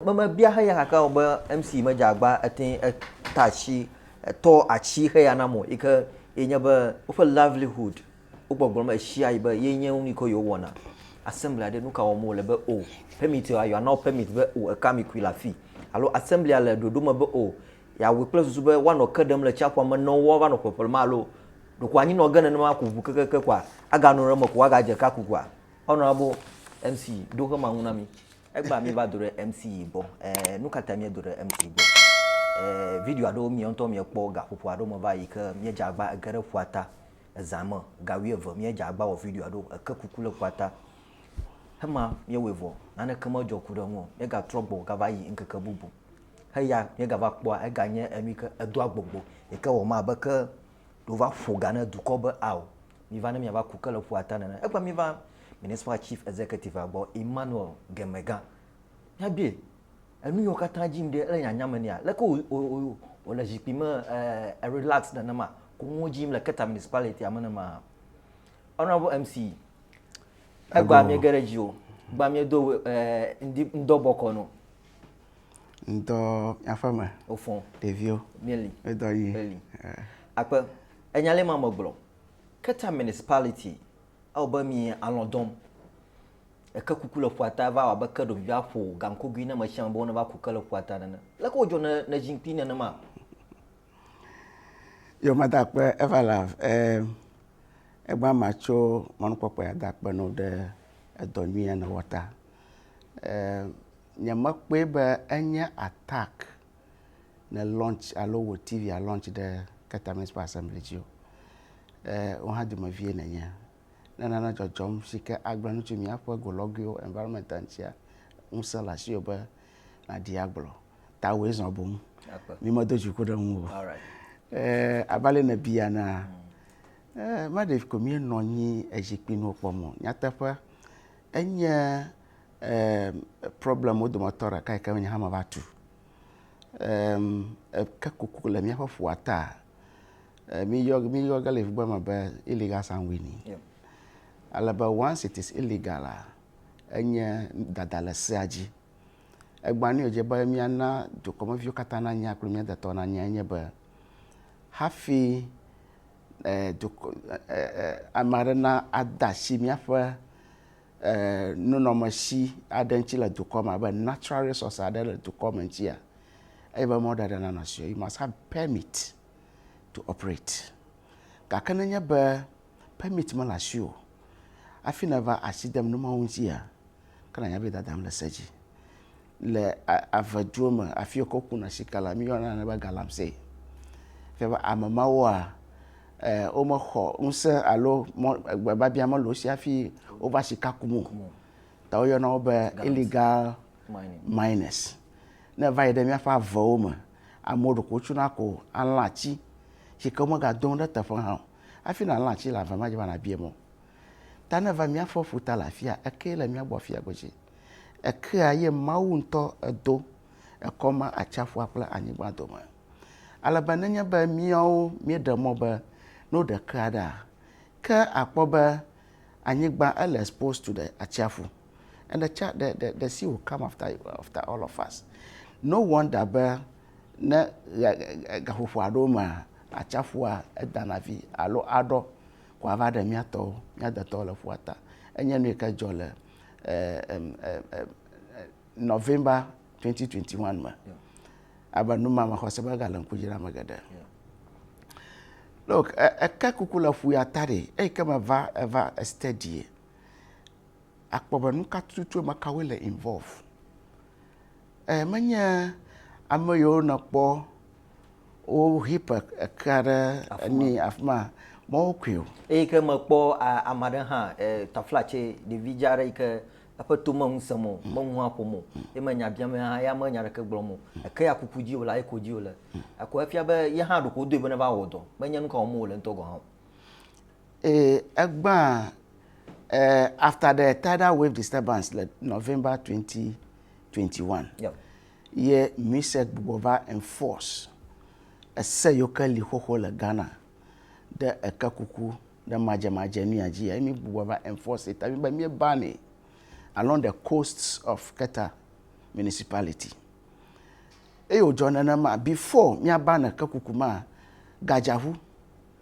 Me me bia heya gake wo be MC me jagba ete eta chi etɔ achi heya na mo ike ye nye be woƒe livelihood wo gbɔgblɔ me eshia yi be ye nye wo niko yo wɔna assembly aɖe nuka wɔ mo le be o permit yo ayo anawo permit be o eka mi kui la fi alo assembly a le ɖoɖo me be o ya wui kple susu be woanɔ ke ɖem le tsiaƒua me nɔ wo va nɔ ƒeƒle ma alo ɖoko anyi nɔ ge nenema ku ʋu kekeke kua aga nɔ ɖe me ko aga dze ka kukua ɔnɔ abo MC ɖo xe ma ŋu na mi. Egbea míeva do ɖe MC yi gbɔ. Ɛɛ, nu ka ta míedo ɖe MC yi gbɔ? Ɛɛ, video aɖewo miawo ŋutɔ miekpɔ gaƒoƒo aɖewo me va yi ke míedze agba ege ɖe ƒua ta ezã me. Ga wuieve míedze agba wɔ videoa ɖo eke kuku le ƒua ta. Hema míewɔe vɔ, naneke medzɔ ku ɖe eŋu o. Míegatrɔ gbɔ gava yi ŋkeke bubu. Eya míegava kpɔa, eganye enu yi ke edoa gbɔgbɔ yi ke wɔ me abe ke ɖewova ƒo ga ne dukɔ be ao. Miva ne miava ku ke le ƒua ta nene. Egbea miva Municipal Chief Executive-a gbɔ, Emmanuel Gemega. Míabie, Enu yiwo katã dzi ŋɖe ele nyanya me nɛa? Leke wò, wò, wò, wòle zikpui me eh, relax nenema? Koŋwo dzi yim le Keta Municipality-a me nema? Honorable MC, egbea miege ɖe dzi o. Egbea miedo eh, ŋdi, ŋdɔ bɔkɔ no. Ŋdɔ míaƒe me, Wofɔn. ɖeviwo, Míeli. ŋdɔ yi. Eli. Eh, Akpe, enya le ma megblɔ. Keta Municipality, ewɔ be mi alɔ̃ dɔm. Eke kuku le ƒua ta va wɔ abe ke ɖevi va ƒo gankogui na ame sia ame be woneva ku ke le ƒua ta nene. Leke wodzɔ ne ne zikpui nenema? Yo mada akpe eva la e egba ma tso mɔnukpɔkpɔ ya da akpe no ɖe edɔ nyui ya ne wɔ ta. E nye me kpɔe be enye attack ne launch alo wò TV a launch ɖe Keta Municipal Assembly dzi o. E, wò hã dumevie nènye. Ne nane dzɔdzɔm si ke agblẽ nu tso míaƒe golɔguiwo, environment ŋutia, ŋusẽ le asiwò be nàɖi agblɔ. Tawòe zɔ boŋ. Mímedo dziku ɖe ŋuwò o. E, abe ale nèbia enea, e, maɖe ko míenɔ anyi ezikpui nuwo kpɔm o. Nyateƒe, enye Problem wo dometɔ ɖeka yi ke nye hã me va tu. Eke kuku le míaƒe ƒua ta. Mi yɔ mi yɔ ge le ƒugbe me be illegal sanguini. Ale be once it is illegal a enye dada le sea dzi. Egbã nu dze be míana dukɔmeviwo katã nanya kple mía detɔwo nanya enye be hafi e dukɔ e e ame aɖe na ade asi míaƒe. nunɔmesi aɖe ŋuti le dukɔ me abe natural resource aɖe le dukɔ me ŋutia, eye be mɔɖaɖa nanɔ si o, you must have permit to operate. Gake ne nye be permit mele asi o, hafi nèva asi dem nu mawo ŋutia, ke nànya be dadam le se dzi. le ave duwo me afi yi ke wokuna sika le, míeyɔna nane be galamse. Fia be ame mawoa, womexɔ ŋusẽ alo gbebiabia mele wo si hafi wova sika kum o. Ta woyɔna wo be illegal miners. Ne eva yi ɖe míaƒe avewo me, amewo ɖeko wotsona ko alã atsi si ke womegado nu ɖe ete ƒe hã o. Hafi nàlã atsi le ave me, edze be nàbiae mɔ. Ta ne eva mía ƒe ƒuta le afia, ekee le mía gbɔ afia godzi. Ekea ye Mawu ŋutɔ edo, ekɔ ma atsaƒua kple anyigba dome. Ale be nenye be míawo míeɖe mɔ be ne woɖe kea ɖea, ke akpɔ be anyigba ele exposed to the atsiaƒu. And the, cha, the, the, the sea will come after, after all of us. No wonder be ne gaƒoƒo aɖewo mea, atsiaƒua edana vi alo aɖɔ ko ava ɖe mía tɔwo, mía detɔwo le ƒua ta. Enye nu yi ke dzɔ le November 2021 me abe nu ma me xɔse be gale ŋku dzram ame geɖe look eke kuku le ƒu ya ta ɖi eyi ke meva eva steady akpɔ be nu ka tutu me kawoe le involve E menye ame yiwo nèkpɔ wo heap ekea ɖe enu afi ma mɔwo koe o. Eyi ke mekpɔ ame aɖe hã taflatse ɖevi dza aɖe yi ke eƒe to me ŋu sem o, me ŋu hã ƒom o, ye me nya biam hã ya me nya ɖeke gblɔm o. Eke ya kuku dzi wòle, eko dzi wòle. Ekɔ efia be ye hã ɖeko wodoe be neva wɔ dɔ. Menye nu ka wɔm wòle ŋutɔ gɔ̃ hã o. Ee, egbãa. Uh, after the tidal wave disturbance le November 2021, yeah. ye mise gbugbɔ va enforce ese yiwo ke li xoxo le Ghana ɖe eke kuku ɖe madzemadze nu ya dzi ya mi gbugbɔ va enforce ta mi be mi bani along the coasts of Keta municipality. Eyo dzɔ nenema before mi abane ke kuku ma gadzahu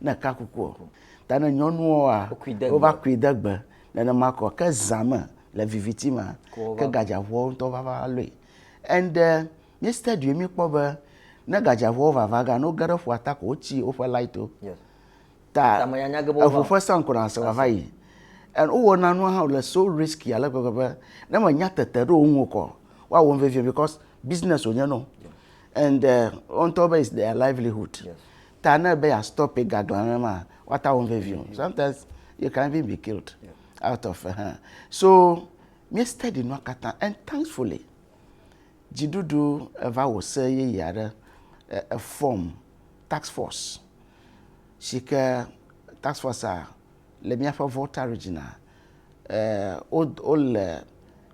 ne ka kuku o. Ta ne nyɔnuwoa, wova kui de gbe nenema kɔ. Ke zã me le viviti ma, ke gadzaʋuawo ŋutɔ vava lɔe. And eh, mí study mí kpɔ be ne gadzaʋuawo vava gan, woge ɖe ƒua ta ko wotsi woƒe light wo. Ta eŋu ƒe sankonas vava yi. And wowɔna nua hã wòle so risky ale gbegbe be ne me nya tete ɖo wo ŋu kɔ, woawɔm vevie because business wònye na wo. And eh, wo ŋutɔ be it's their livelihood. ta ne be ya stop ga dɔn aɖe ma wa ta wɔm vevi o sometimes you can even be killed out of uh, so mi steady nua katã and thankfully dziɖuɖu eva wò se yeye aɖe e form tax force si ke tax force a le míaƒe volta region a wole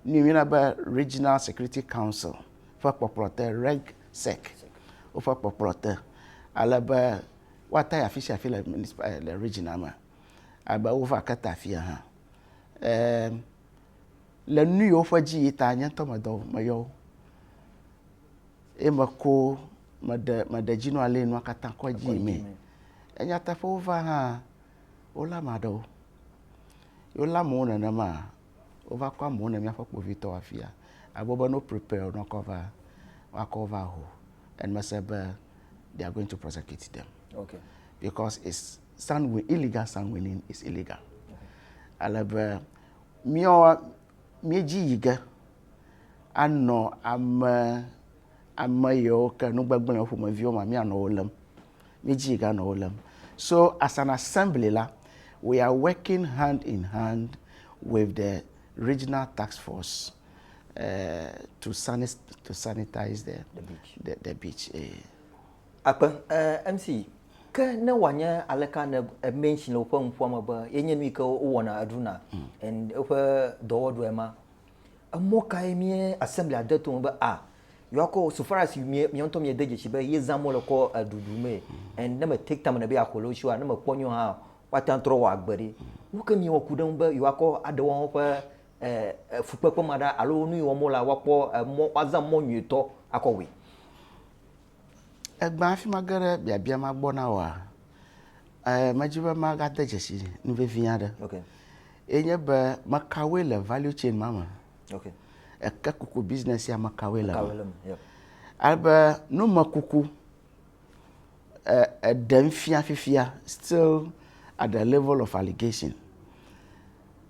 nu yɔna be regional security council ƒe kpɔkplɔ te reg sec, woƒe kpɔkplɔ te ale be woata yi afi sia afi le municipa eh, le regiona me ale be wova ke ta afia hã. Eh, le nu yiwo ƒe dzi yi ta nye ŋutɔ medɔ meyɔ wo eye meko meɖe meɖe dzinu ale nua katã kɔ dzi mee. Enyateƒe wova hã wolé ame aɖewo. Wolé amewo nenema Wova kɔ amewo ne míaƒe kpovitɔ afia. Agbe be no prepare ne wokɔ va wakɔ va ho and me se be they are going to prosecute them. Okay. Because it's sun win, illegal sun winning is illegal. Ale be míɔ míedzi yi ge anɔ ame ame yewo ke nugbegblẽ ƒomeviwo ma míanɔ wo lém. Mi dzi ga nɔ wo lem. So as an assembly la, we are working hand in hand with the regional task force uh, to, sani to sanitize the, the beach. The, the beach eh. Akpe, uh, eh, MC, ke ne wòanye aleka ne emenshi le woƒe nuƒoame be yenye nu yi ke wowɔna eɖuna hmm. and woƒe dɔwɔɖuae ma Emɔ kae mía Assemblea de to me be a yewoakɔ so far as mia ŋutɔ miede dzesi be yezã mɔ le kɔ ɖuɖu mee and ne me take time ne be yeaxɔ le wo si a ne mekpɔ nyuie hã woate ŋu trɔ wɔ agbe ɖi. Nu ke miewɔ ku ɖe eŋu be yewoakɔ aɖe woawo ƒe fukpekpe ma ɖa alo nu yi wɔm wole la woakpɔ mɔ woazã mɔ nyuietɔ akɔ wɔe. Egbea hafi mage ɖe biabia ma gbɔ na oa, eh, medzi be magade dzesi nu vevi aɖe. Okay. Ye nye be mekawoe le value chain ma me. Okay. Eke kuku business ya mekawoe le me. Yep. Alebe nu me kuku eh, eɖem fia fifia still at the level of allegation.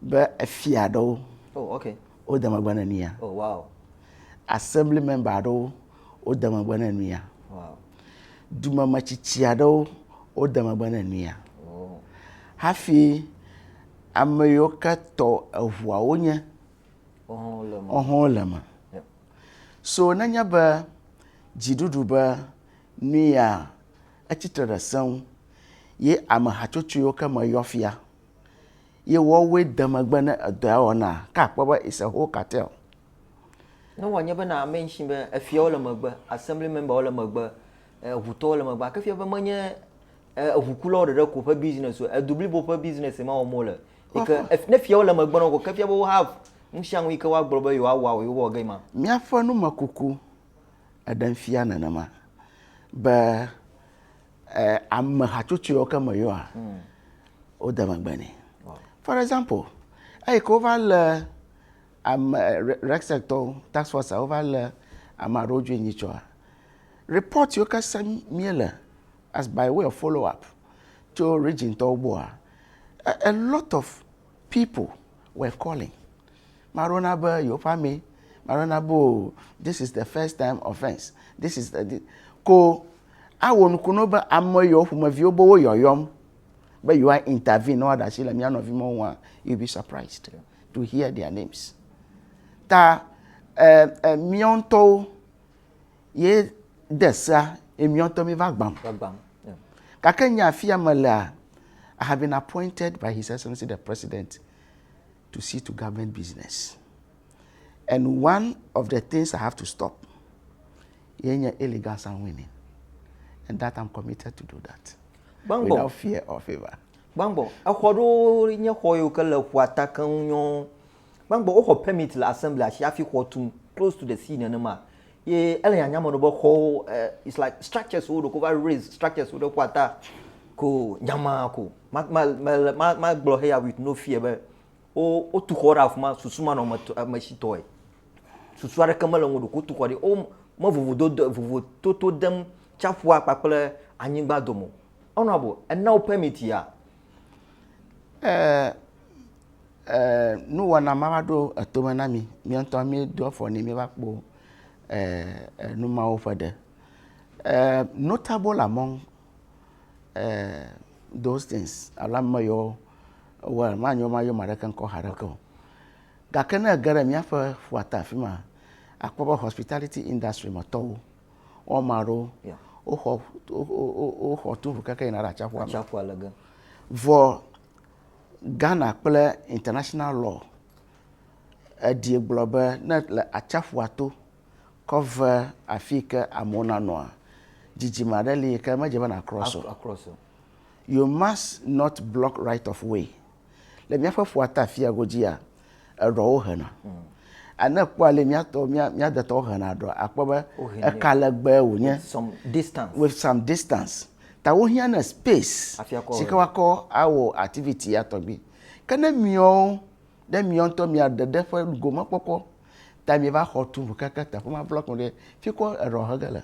be efia aɖewo oh, okay. wode megbe ne nuya oh, wow. assembly member aɖewo wode megbe ne nuya wow. dumemetsitsi aɖewo wode megbe ne nuya oh. hafi ame yiwo ke tɔ eŋuawo nye ɔhɔn le me so nenye be dziɖuɖu be nuya etsitre ɖe seŋ ye ame hatsotso yiwo ke me yɔ fia ye woawoe de megbe ne edɔ ya wɔna. Ke akpɔ be it's a whole cartel. Ne wòanye be na mention be efiawo le megbe, assembly memberwo le megbe, eŋutɔwo le megbe, gake fia be menye eŋukulawo ɖeɖe ko ƒe business o, edu blibo ƒe business ma wɔm wole. Yi ke ne fiawo le megbe na wo ko, ke fia be wo have nu sia nu yi ke woagblɔ be yewoawɔ awu yewowɔ ge ma. Míaƒe numekuku eɖem fia nenema be eh, ame hatsotsoewo ke me yɔa hmm. wode megbe nɛ for example eyi ke wova le ame rexectɔwo tax force a wova le ame aɖewo dzoe nyi tsɔa report yiwo ke se míele as by way of follow up tso region tɔwo gbɔa a lot of People were calling. Ame aɖewo na be yewoƒe amee. Ame aɖewo na be o this is the first time offence. This is the this. Ko awɔ nuku na wo be ame yewo ƒomeviwo be woyɔyɔm be yewoa intervene ne woaɖe asi le mía nɔvi mawo ŋua. You be surprised to hear their names. Ta eh, eh, míawo ŋutɔwo ye de sea ye míawo mi va gbam. Gake nye afia melea, I have been appointed by His Excellency the President to see to government business. And one of the things I have to stop ye nye illegal sun winning. And that I'm committed to do that. Bangbo. Without fear or favor. Bangbo, exɔ ɖewo nye xɔ yiwo ke le ƒua ta keŋ nyɔ Gbãgbɔ woxɔ permit le assembly asi hafi xɔ tum close to the sea nenema. Ye ele nyanya me ɖo be xɔwo eh, it's like structures wo ɖoko va raise structures wo ɖe ƒua ta ko nyama ko. Ma ma ma ma ma gblɔ heya with no fear be wo wotu xɔ ɖe afima susu ma nɔ me me si tɔe. Susu aɖeke mele ŋu ɖoko tu xɔ ɖe wo me vovo do vovo toto dem tsaƒua kpakple anyigba dome. Honorable, ena wo permit ya. Eee eee nuwɔna ma va ɖo eto me na mi. Mía ŋutɔ míedo afɔ nɛ míeva kpɔ eee nu mawo ƒe ɖe. Eee notable among eee those things alo ame yawo wowɔ manyo mayɔ ame aɖeke ŋkɔ haɖe ke o. Gake ne ege ɖe míaƒe ƒuta afi ma akpɔ be hospitality industry me tɔwo. woame aɖewo woxɔ woxɔ to ŋu keke yina ɖe atsiaƒua me. Atsiaƒua le ge. Vɔ Ghana kple international law eɖi gblɔ be ne le atsiaƒua to kɔ ve afi yi ke amewo nanɔa, dzidzime aɖe li yi ke medze be na cross o. You must not block right of way. Le míaƒe ƒua ta afia godzia, eɖɔwo hena. Hmm. Ane kpɔ ale mía tɔ mía mía detɔwo hena eɖɔ akpɔ be eka legbe wònye. With some distance. With some distance. Ta wohiã ne space. Si ke wakɔ awɔ activity ya tɔgbi. Ke ne miawo ɖe miawo ŋutɔ mia ɖeɖe ƒe gomekpɔkpɔ ta mieva xɔ tu ŋu keke teƒe ma blɔk ɖe fi kɔ eɖɔ hege le.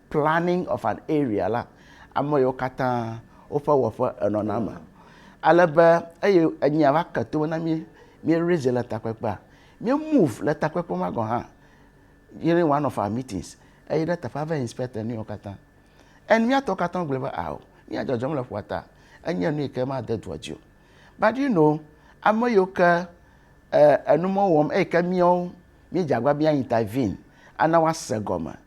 planning of an area la, ame yiwo katã woƒe wɔƒe enɔna eme. Ale be eye enyia va ke tome na mí, mí raise le takpekpea, mí move le takpekpe ma gɔ̃ hã during one of our meetings eyi ɖe teƒea va inspect nu yiwo katã. And míatɔ katã gblɔe be ao, mía dzɔdzɔm le ƒua ta, enye nu yi ke made dua dzi o. But you know, ame yiwo ke eh, enu mewɔm eyi ke míawo míedze agbagba be míaintervene ana woase gɔme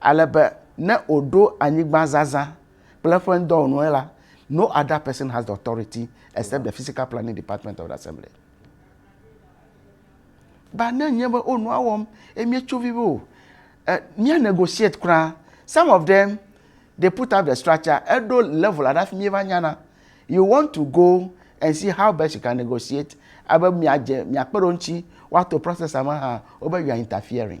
Ale be ne wòɖo anyigbazazã kple eƒe ŋdɔwɔnuwo la, no other person has the authority except the physical planning department of the assembly. Ba ne nye be o nua wɔm eye míetso vi be o, eh, mía negotiate kura. Some of them they put up the structure, eɖo level aɖe hafi míeva nyana. You want to go and see how best you can negotiate, abe miadze miakpe ɖe wo ŋuti woato process me hã, wobe you are interfering.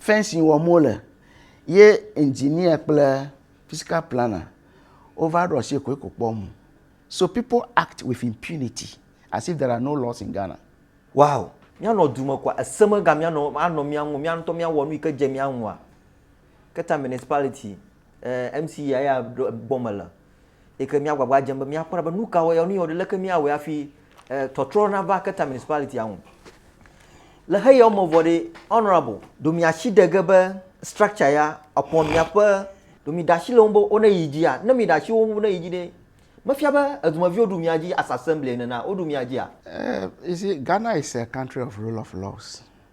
Fɛnsin wɔm wole ye engineer kple physical planner wova ɖo asi koeko kpɔm o. So people act with impunity as if there are no laws in Ghana. Wow! Míanɔ du me koa, ese megamea nɔ anɔ mía ŋu o, mía ŋutɔ míawɔ nu yi ke dze mía ŋua? Keta Municipality Ɛɛ, MC ya ya gbɔ mele. Eke mía gbagba dzem be mía kpɔna be nuka wɔ ya, nu ya wɔ, leke mía wɔe hafi tɔtrɔ na va Keta Municipality ya ŋu. Le xe yawo me vɔ ɖe, Honourable, ɖo mía shi de ge be structure ya epɔ mía ƒe, ɖo mí ɖa shi le wo ŋu be wo ne yi dzi ya. Ne mí ɖa shi wo ŋu ne yi dzi ɖe, me fia be edumeviwo ɖu mía dzi as assembly ene na wo ɖu mía dzi a? Ɛɛ, you see, Ghana is a country of rule of laws.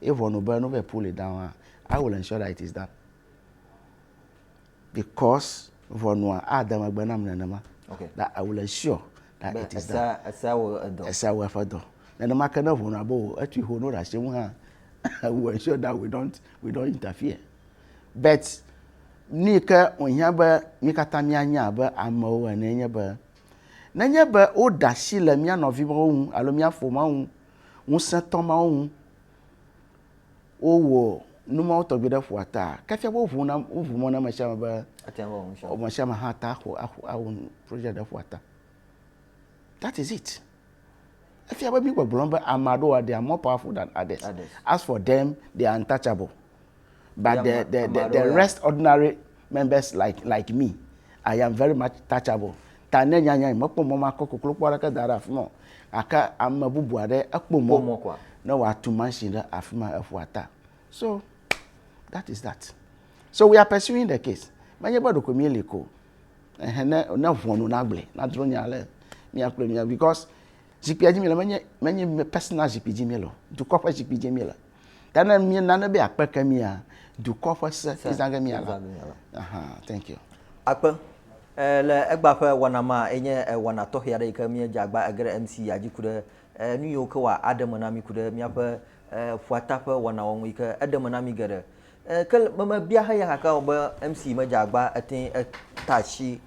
Ye ʋɔnu be ne wova yi pull it down hã, I will ensure that it is done because ʋɔnua ade megbe nam nenema. Okay. That I will ensure that it is done. Esea wɔ edɔ. Esea wɔ eƒe dɔ. Nenema ke ne ʋɔnua be o etui ho no ɖe asi ŋu hã, I will ensure that we don't we don't interfere. But nu yi ke wòhiã be mí katã míanya abe amewo ene nye be nenye be woɖe asi le mía nɔviwo ŋu alo mía ƒomea ŋu ŋusẽtɔ mawo ŋu. Wowɔ nu mawo tɔgbi ɖe ƒua ta. Ke fia be woʋu na, woʋu mɔ na ame sia ame be ame sia ame hã ate axɔ, axɔ, awɔ project ɖe ƒua ta. That is it. Efia be mígbɔgblɔm be ame aɖewo, they are more powerful than others. As for them, they are untouchable. but the the the, the rest ordinary members like like me i am very much touchable ta ne nyanya yi mekpɔ mɔ makɔ koklo kpɔ aɖeke da ɖe afi ma gake ame bubu aɖe ekpɔ mɔ ne wòatu mansin ɖe afi ma eƒua ta so that is that so we are pursuing the case menye be ɖeko mi li ko ehe ne ne ʋɔnu nagblẽ nadro nya le mia kple mia because zikpia dzi mi le menye menye personal zikpui dzi mi le dukɔ ƒe zikpui dzi mi le. Ya ne mi nane be akpe ke mi ya dukɔ ƒe se ki zage mi ala. Aha, thank you. Akpe. Eh, le egba ƒe wana ma enye eh, wana tɔxɛ aɖe yi ke mi dze agba ege ɖe MC ya dzi ku ɖe eh, nu yiwo ke wa aɖe me na mi ku ɖe miaƒe eh, ƒuata ƒe wana wɔnu yi ke eɖe me na mi geɖe. Eh, ke me me bia heya gake o be MC me dze agba ete eta tsi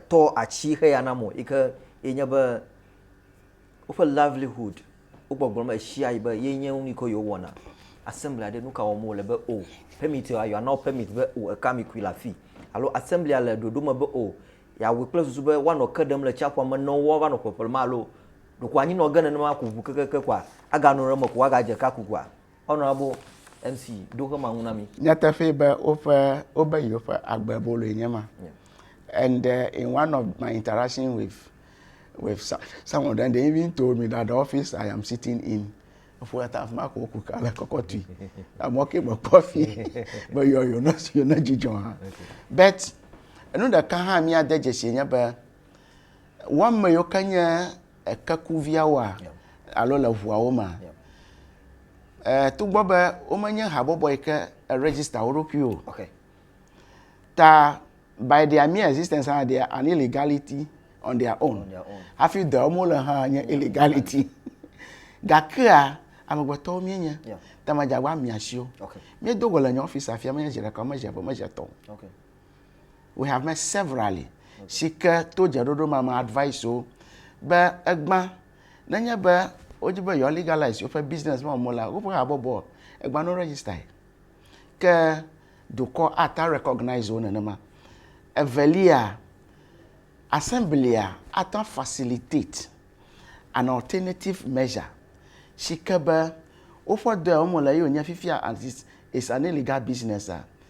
tɔ atsi heya na mo yi ke enye be woƒe livelihood wogbɔgblɔm ɣesiaɣi be ye nye nu yi ke yewo wɔna. Assembly aɖe nu ka wɔm wole be o permit ya yewoana wo permit be o eka mi kui le afi alo assembly le ɖoɖo me be o yeawɔe kple susu be woanɔ ke ɖem le tsiaƒua me ne wova nɔ ƒeƒle ma alo ɖeko anyinɔ ge nenema ko ŋu kekeke koa aganɔ ɖe eme ko woagadze ka ku koa. Honorable MC, ɖo xema ŋu na mi. Nyateƒee be woƒe wobe yewoƒe agbe boloe nye ma. And uh, in one of my interaction with with some of them, they even told me that the office I am sitting in, for that I've marked Okuka like Kokoti. I'm working for coffee, but you're, you're not, you're not Jijon. But, enu ɖeka hã mía de dzesi nye be, wɔme yiwo ke nye kekuviawoa alo le ŋuawo mea, togbɔ be womenye habɔbɔ yi ke eregister wo ɖokui o ta by their mere existence hã they are an illegality on their own hafi dɔ wɔm wole hã nye illegality gakea amegbetɔwo míenye ta madzagba mia si o míedo go le nye ɔfisi afia menye zi ɖeka o mezi eve o mezi etɔ̃ o. We have met severally. Si ke to dzeɖoɖo ma me advice wo be egbã nenye be wodi be yewoa legalize woƒe business ma mo la, woƒe habɔbɔ egbã no register ye. Ke dukɔ ata recognize wo nenema. Evelia, assemblea ata facilitate an alternative measure si ke be woƒe dɔ ya wome le ye wònye fifia as it is an illegal business a,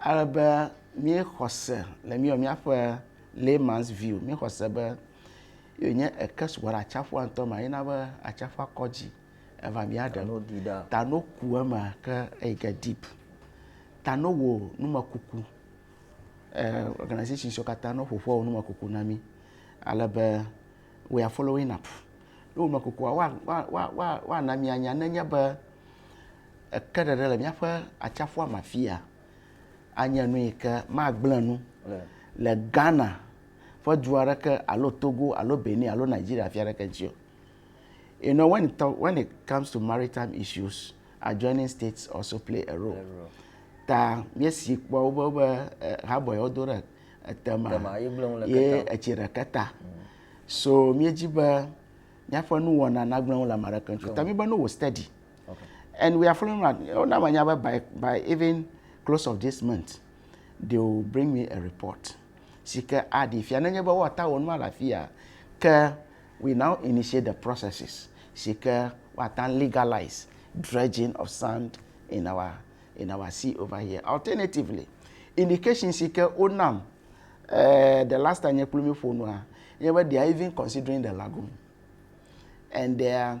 Ale be míexɔ se le míewɔ míaƒe layman's view, míexɔ se be ye nye eke sugbɔ ɖe atsiaƒua ŋutɔ me yina be atsiaƒua kɔ dzi eva mía ɖe. Tano di ɖa. Tano ku eme ke eyi ke deep. Tano wò numekuku. Eh, organization siwo katã no ƒoƒu wɔ numekuku na mí. Ale be we are following up. Numekukua woana mí anya nenye be eke ɖeɖe le míaƒe atsiaƒua me afi ya anye nu yi ke magblẽ nu le Ghana ƒe du aɖeke alo Togo alo Benin alo Nigeria fia aɖeke dzi o. You know, when it, when it comes to maritime issues, adjoining states also play a role. Ta míesi kpɔ wobe be eh, habɔe wodo ɖe etema ye etsi ɖeke ta. Mm. So míedzi be míaƒe nuwɔna nagblẽ ŋu le ame aɖeke ŋuti. Ta míbe ne wò steady. Okay. And we are following up. Oh, now I know by, by even close of this month, they will bring me a report. Si ke aɖi fia nenye be woata wɔ nua le afi ya ke we now initiate the processes si ke woata legalize dredging of sand in our in our sea over here. Alternatively, indication si ke wonam uh, the last time nye kple mi ƒo nua, nye be they are even considering the lagoon and they are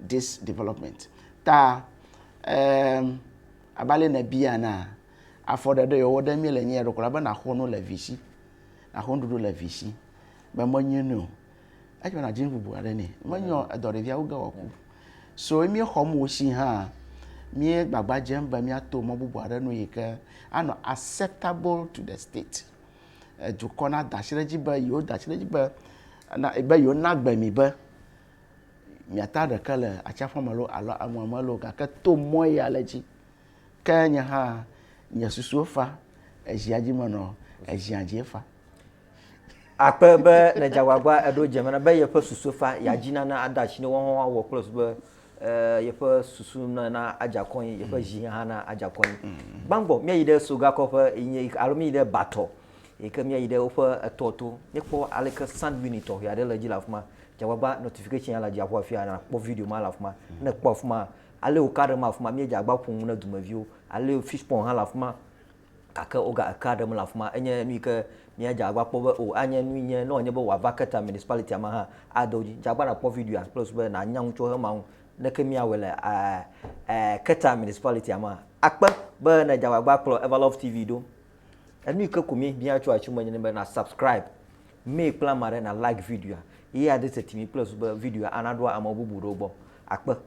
dis development ta abe ale ne bia na afɔ ɖe ɖe yewo ɖe mi le nyi eɖokɔ la be naxɔ nu le visi naxɔ nuɖuɖu le visi be menyi nu o etsɔ na dzi bubu aɖe ne menyɔ edɔ ɖevia wo ge wɔ ku so emi xɔ mu si hã mi gbagba dzem be mi ato mɔ bubu aɖe nu yi ke anɔ acceptable to the state dukɔ nada asi ɖe edzi be yewoda asi ɖe edzi be na be yewona agbe mi be miata ɖeke le atsiaƒua me lo alo emɔa me lo gake to mɔ ya le edzi ke nye hã nye susuwo fa ezia dzi menɔ ezia dzi efa akpe be le dzagbagba eɖo dze me na be yeƒe susu fa ya dzi nana ada asi ne wɔwɔ wɔwɔ kple su be yeƒe susu na adze akɔ anyi, yeƒe zi hã na adze akɔ anyi. Gbãgbɔ míayi ɖe Sogakɔƒe yi nye alo míyi ɖe Batɔ yi ke míayi ɖe woƒe etɔ to. Míekpɔ ale ke sanguini tɔxɛ aɖe le edzi le afi ma. Dze agbagba notification ya le dziaƒo afi ya nàkpɔ video ma le afi ma. Ne èkpɔ afi ma, ale wòka ɖem afi ma míedze agbagba ƒo nu na dumeviwo. Ale fishpɔn hã le afi ma. Gake woga ekea ɖem le afima. Enye nuyi ke mía dza agba kpɔ be o anye nui nye ne wònye be wòava ke ta municipality-a me hã ade wo dzi. Dza agba nàkpɔ video-a kple susu be nànya nu tso eme awu ne ke míawɔe le ke ta municipality-a mea. Akpe be ne dza agba kplɔ Everlove TV ɖo. Enuyi ke ko mi bia tso atsu me nye be na subscribe mí kple ame aɖe na like video-a ye ade se ti mi kple susu be video-a ana ɖoa ame bubu ɖewo gbɔ. Akpe.